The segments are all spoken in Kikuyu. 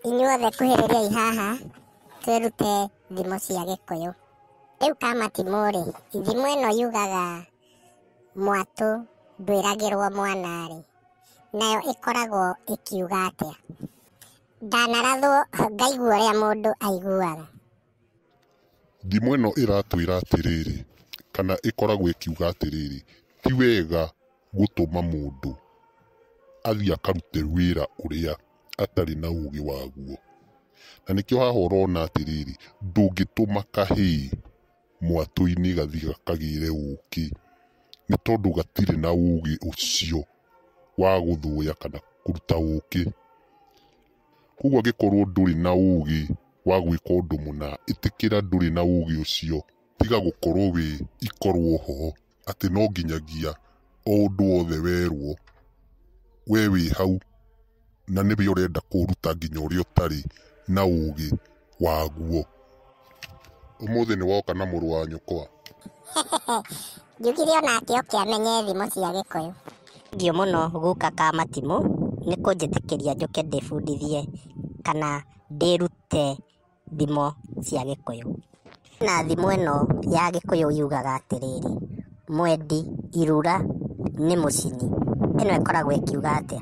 Inyuothe kuhĩrĩriai haha twĩrute thimo cia Gĩkũyũ. Rĩu Kamatimũ-rĩ, thimo ĩno yugaga mwatũ ndwĩragĩrwo mwana-rĩ, nayo ĩkoragwo ĩkiuga atĩa? Ndanarathwo ngaigua ũrĩa mũndũ aiguaga. Thimo ĩno ĩratwĩra atĩrĩrĩ, kana ĩkoragwo ĩkiuga atĩrĩrĩ, ti wega. gũtũma mũndũ athiĩ akarute wĩra ũrĩa atarĩ na ũgĩ waguo. Na nĩkĩo haha ũrona atĩrĩrĩ, ndũngĩtũma kahĩ mwatũ-inĩ gathiĩ gakagĩre ũkĩ, nĩ tondũ gatirĩ na ũgĩ ũcio wa gũthũya kana kũruta ũkĩ. Koguo angĩkorwo ndũrĩ na ũgĩ wa gwĩka ũndũ mũna, ĩtĩkĩra ndũrĩ na ũgĩ ũcio, tiga gũkorwo wĩ ikorwo ho. atĩ no nginyagia o ũndũ wothe werwo we wĩ hau na nĩwe ũrenda kũũruta nginya ũrĩa ũtarĩ na ũgĩ waguo. Ũmũthĩ nĩ woka na mũrũ wa nyũkwa? Njugire o nake oke amenye thimo cia Gĩkũyũ. Thengiũ mũno guka ka Matimũ nĩ kũnjĩtĩkĩria njũke ndĩbundithie kana ndĩrute. thimo cia gĩkũyũ. Na thimo ĩno ya gĩkũyũ yugaga atĩrĩrĩ, mwendi irura nĩ mũcini. Ĩno ĩkoragwo ĩkiuga atĩa?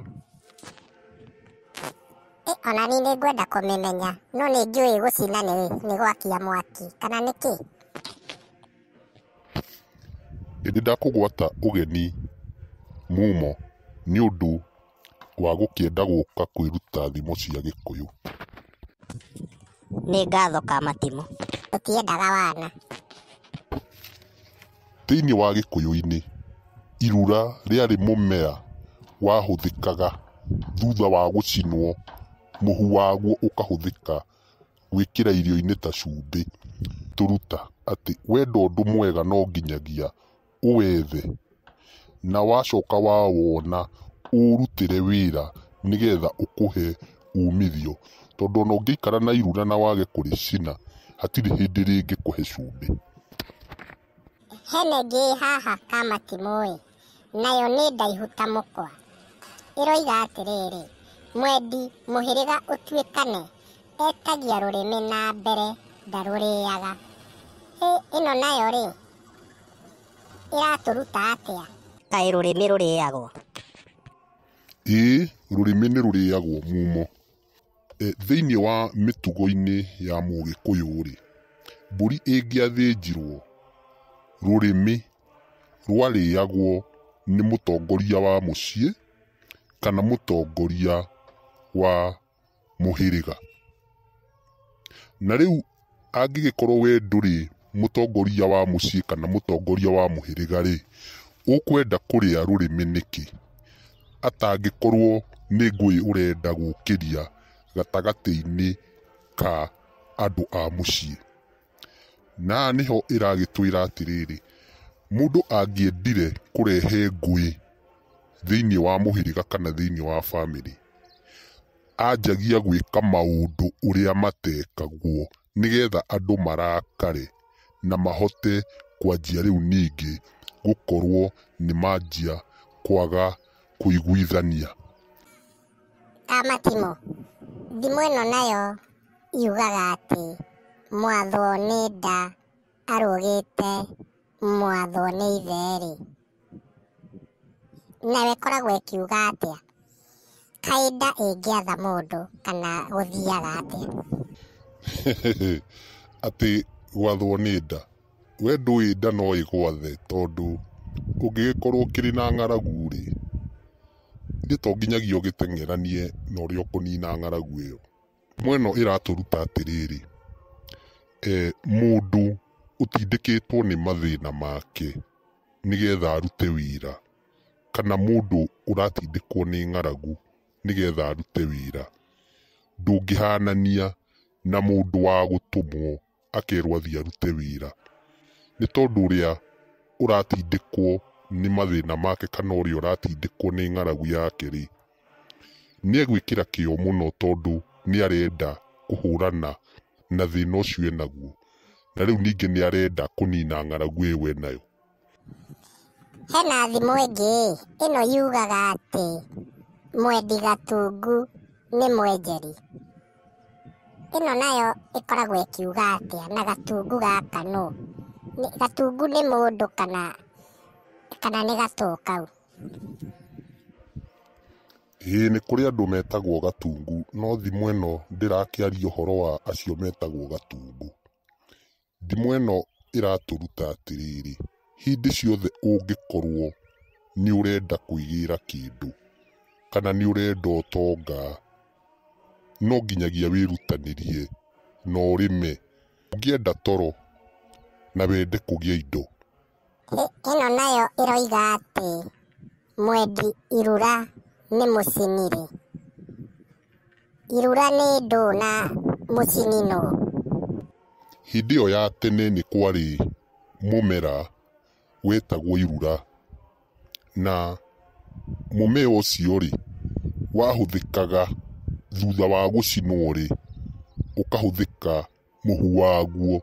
Ĩ ona niĩ nĩ ngwenda kũmĩmenya, no nĩ njũĩ gũcina nĩ nĩ gwakia mwaki, kana nĩ kĩ? Ĩndĩ ndakũgwata ũgeni mumo nĩ ũndũ wa gũkĩenda gũka kwĩruta thimo cia gĩkũyũ. Nĩ ngatho ka matimũ. Tũtiendaga wana. Thĩinĩ wa gĩkũyũ-inĩ, irura rĩarĩ mũmera wahũthĩkaga thutha wa gũcinwo, mũhu waguo ũkahũthĩka gwĩkĩra irio-inĩ ta cumbĩ. Tũruta atĩ wendo ũndũ mwega no nginyagia ũwethe, na wacoka wawona ũũrutĩre wĩra nĩgetha ũkũhe umithio. Tondũ ona ũngĩikara na irura na wage kũrĩcina, hatirĩ hĩndĩ rĩngĩkũhe cumbĩ. Hena ĩngĩ ĩ haha ka matimũ ĩ, nayo nĩ ndaihu ta mũkwa. Ĩroiga atĩrĩrĩ, mwendi mũhĩrĩga ũtuĩkane, etagia rũrĩmĩ na mbere ndarũrĩaga. Hĩ, ĩno nayo rĩ, ĩratũruta atĩa kaĩ rũrĩmĩ rũrĩagwo ĩĩ rũrĩmĩ nĩ rũrĩagwo mumo e, thĩinĩ wa mĩtugo-inĩ ya mũgĩkũyũ-rĩ mbũri ĩngĩathĩnjirwo rũrĩmĩ rwarĩagwo nĩ mũtongoria wa mũciĩ kana mũtongoria wa mũhĩrĩga. Na rĩu angĩgĩkorwo we ndũrĩ mũtongoria wa mũciĩ kana mũtongoria wa mũhĩrĩga rĩ, ũkwenda kũrĩa rũrĩmĩ nĩkĩ atangĩkorwo nĩ ngũĩ ũrenda gũkĩria gatagatĩ-inĩ ka andũ a mũciĩ? Na nĩho ĩragĩtwĩra atĩrĩrĩ, mũndũ angĩendire kũrehe ngũĩ thĩinĩ wa mũhĩrĩga kana thĩinĩ wa bamĩrĩ, anjagia gwĩka maũndũ ũrĩa matekagwo nĩgetha andũ marakare na mahote kwanjia rĩu ningĩ gũkorwo nĩ manjia kwaga kũiguithania. Amatimũ, thimo ĩno nayo. yugaga atĩ mwathwo nĩ nda arũgĩte mwathwo nĩ ithe-rĩ, nayo ĩkoragwo ĩkiuga atĩa? Kaĩ nda ĩngĩatha mũndũ kana gũthiaga atĩa? Atĩ gwathwo nĩ nda? We ndũĩ nda no ĩgwathe tondũ ũngĩgĩkorwo ũkĩrĩ na ng'aragu-rĩ, githĩ to nginyagia ũgĩteng'eranie na ũrĩa ũkũnina ng'aragu ĩyo? Mbica ĩno ĩratũruta atĩrĩrĩ, mũndũ ũtindĩkĩtwo nĩ mathĩna make nĩgetha arute wĩra kana mũndũ ũratindĩkwo nĩ ng'aragu nĩgetha arute wĩra ndũngĩhanania na mũndũ wa gũtũmwo. akerwo athiĩ arute wĩra, nĩ tondũ ũrĩa ũratindĩkwo nĩ mathĩna make kana ũrĩa ũratindĩkwo nĩ ng'aragu yake rĩ, nĩ egwĩkĩra kĩo mũno tondũ nĩ arenda kũhũrana na thĩna ũcio enaguo, na rĩu ningĩ nĩ arenda kũnina ng'aragu ĩyo enayo. Hena thimũ ĩngĩ ĩno yugaga atĩ mwendi gatungu nĩ mwenjeri. Ĩno nayo ĩkoragwo ĩkiuga atĩa na gatungu gaka nũ? Gatungu nĩ mũndũ kana kana nĩ gatoo kau? Ĩĩ nĩ kũrĩ andũ metagwo gatungu no thimũ ĩno ndĩrakĩaria ũhoro wa acio metagwo gatungu. Thimo ĩno ĩratũruta atĩrĩrĩ, hĩndĩ ciothe ũngĩkorwo nĩ ũrenda kwĩgĩra kĩndũ, kana nĩ ũrenda ũtonga, no nginyagia wĩrutanĩrie na ũrĩme. Ũngĩenda toro na wende kũgĩa indo. Ĩno nayo ĩroiga atĩ mwendi irura nĩ mũcinire. Irura nĩ ndũ na mũcini nũ? Hĩndĩ ĩyo ya tene nĩ kwarĩ mũmera wetagwo irura, na mũmea ũcio rĩ, wahũthĩkaga thutha wa gũcinwo rĩ, ũkahũthĩka mũhu waguo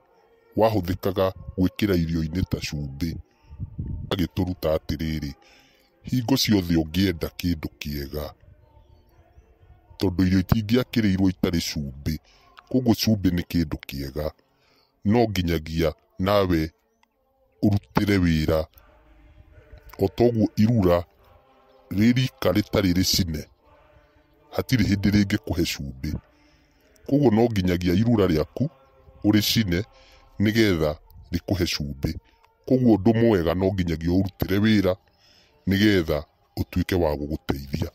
wahũthĩkaga gwĩkĩra irio-inĩ ta cumbĩ, agĩtũruta atĩrĩrĩ, hingo ciothe ũngĩenda kĩndũ kĩega, tondũ irio itingĩakĩrĩirwo itarĩ cumbĩ, koguo cumbĩ nĩ kĩndũ kĩega, no nginyagia nawe... ũrutĩre wĩra. O ta ũguo irura rĩ rika rĩtarĩ rĩcine, hatirĩ hĩndĩ rĩngĩkũhe cumbĩ. Kwoguo no nginyagia irura rĩaku ũrĩcine nĩ getha rĩkũhe cumbĩ. Kwoguo ũndũ mwega no nginyagia ũũrutĩre wĩra nĩ getha ũtuĩke wa gũgũteithia.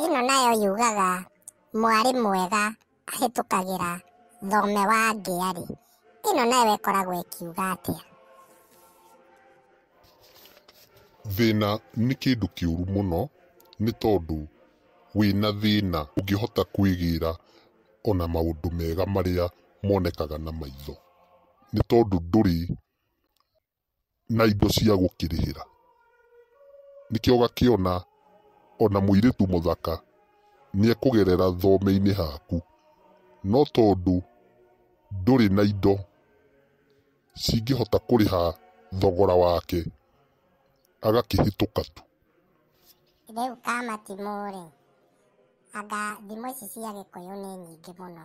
Ĩno nayo yugaga mwarĩ mwega ahĩtũkagĩra thome wa ngĩa-rĩ, ĩno nayo ĩkoragwo ĩkiuga atĩa? Thĩna nĩ kĩndũ kĩũru mũno nĩ tondũ wĩna thĩna ndũngĩhota kwĩgĩra ona maũndũ mega marĩa monekaga na maitho, nĩ tondũ ndũrĩ na indo cia gũkĩrĩhĩra. Nĩkĩo ũgakĩona ona mũirĩtu mũthaka nĩekũgerera thome-inĩ haku, no tondũ ndũrĩ na indo cingĩhota kũrĩha thogora wake, agakĩhĩtũka tu. Rĩu kamatimũ-rĩ, anga thimũ ici cia gĩkũyũ nĩ nyingĩ mũno.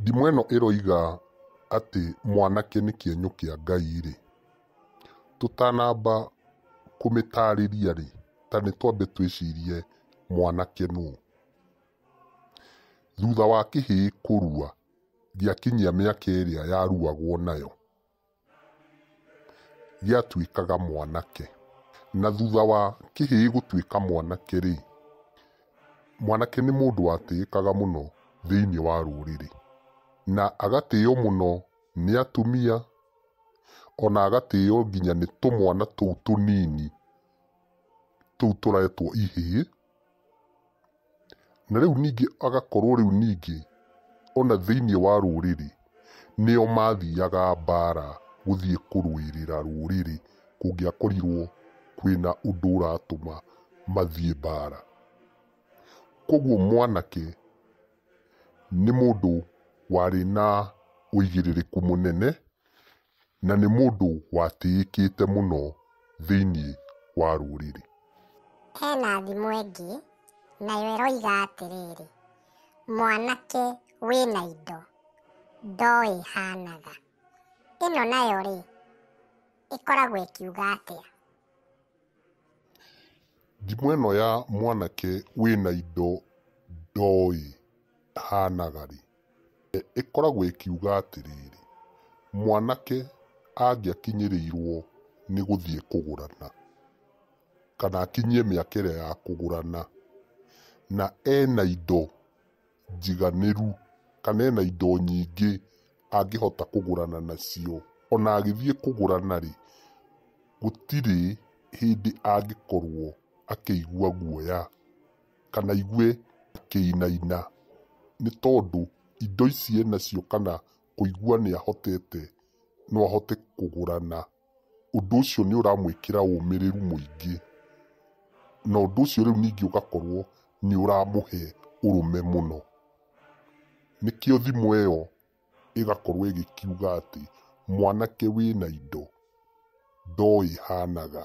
Ndimũ ĩno ĩroiga atĩ mwanake nĩ kĩenyũ kĩa Ngai-rĩ, tũtanamba kũmĩtarĩria-rĩ, ta nĩ twambe twĩcirie mwanake nũ? Thutha wa kĩhĩĩ kũrua gĩakinyia mĩaka ĩrĩa yaruagwo nayo, Gĩatuĩkaga mwanake. Na thutha wa kĩhĩĩ gũtuĩka mwanake-rĩ, mwanake nĩ mũndũ watĩĩkaga mũno thĩinĩ wa rũrĩrĩ. Na agatĩo mũno nĩ atumia, o na agatĩo nginya nĩ tũmwana tũu tũnini tũu tũretwo ihĩĩ. Na rĩu ningĩ agakorwo rĩu ningĩ ona thĩinĩ wa rũrĩrĩ nĩo mathiaga mbara gũthiĩ kũrũĩrĩra rũrĩrĩ kũngĩakorirwo kwĩna ũndũ ũratũma mathiĩ mbara. Koguo mwanake nĩ mũndũ warĩ na ũigĩrĩrĩku mũnene. na nĩ mũndũ watĩĩkĩte mũno thĩinĩ wa rũrĩrĩ. He na thimo ĩngĩ, nayo ĩroiga atĩrĩrĩ, Mwanake wĩ na indo, ndoĩ hanaga. Ĩno nayo-rĩ, ĩkoragwo ĩkiuga atĩa? Thimo ĩno ya mwanake wĩ na indo, ndoĩ hanaga-rĩ. ĩkoragwo ĩkiuga atĩrĩrĩ, mwanake angĩakinyĩrĩirwo nĩ gũthiĩ kũgũrana, kana akinyie mĩaka ĩrĩa ya kũgũrana, na ena indo njiganĩru, kana ena indo nyingĩ angĩhota kũgũrana nacio, ona agĩthiĩ kũgũrana rĩ, gũtirĩ hĩndĩ angĩkorwo akĩigua guoya kana aigue akĩinaina nĩ tondũ indo ici enacio kana kũigua nĩ ahotete no ahote kũgũra na ũndũ ũcio nĩ ũramwĩkĩra ũmĩrĩru mũingĩ. Na ũndũ ũcio rĩu ningĩ ũgakorwo nĩ ũramũhe ũrũme mũno. Nĩkĩo thimũ ĩyo ĩgakorwo ĩgĩkiuga atĩ mwanake wĩna indo ndoĩ hanaga.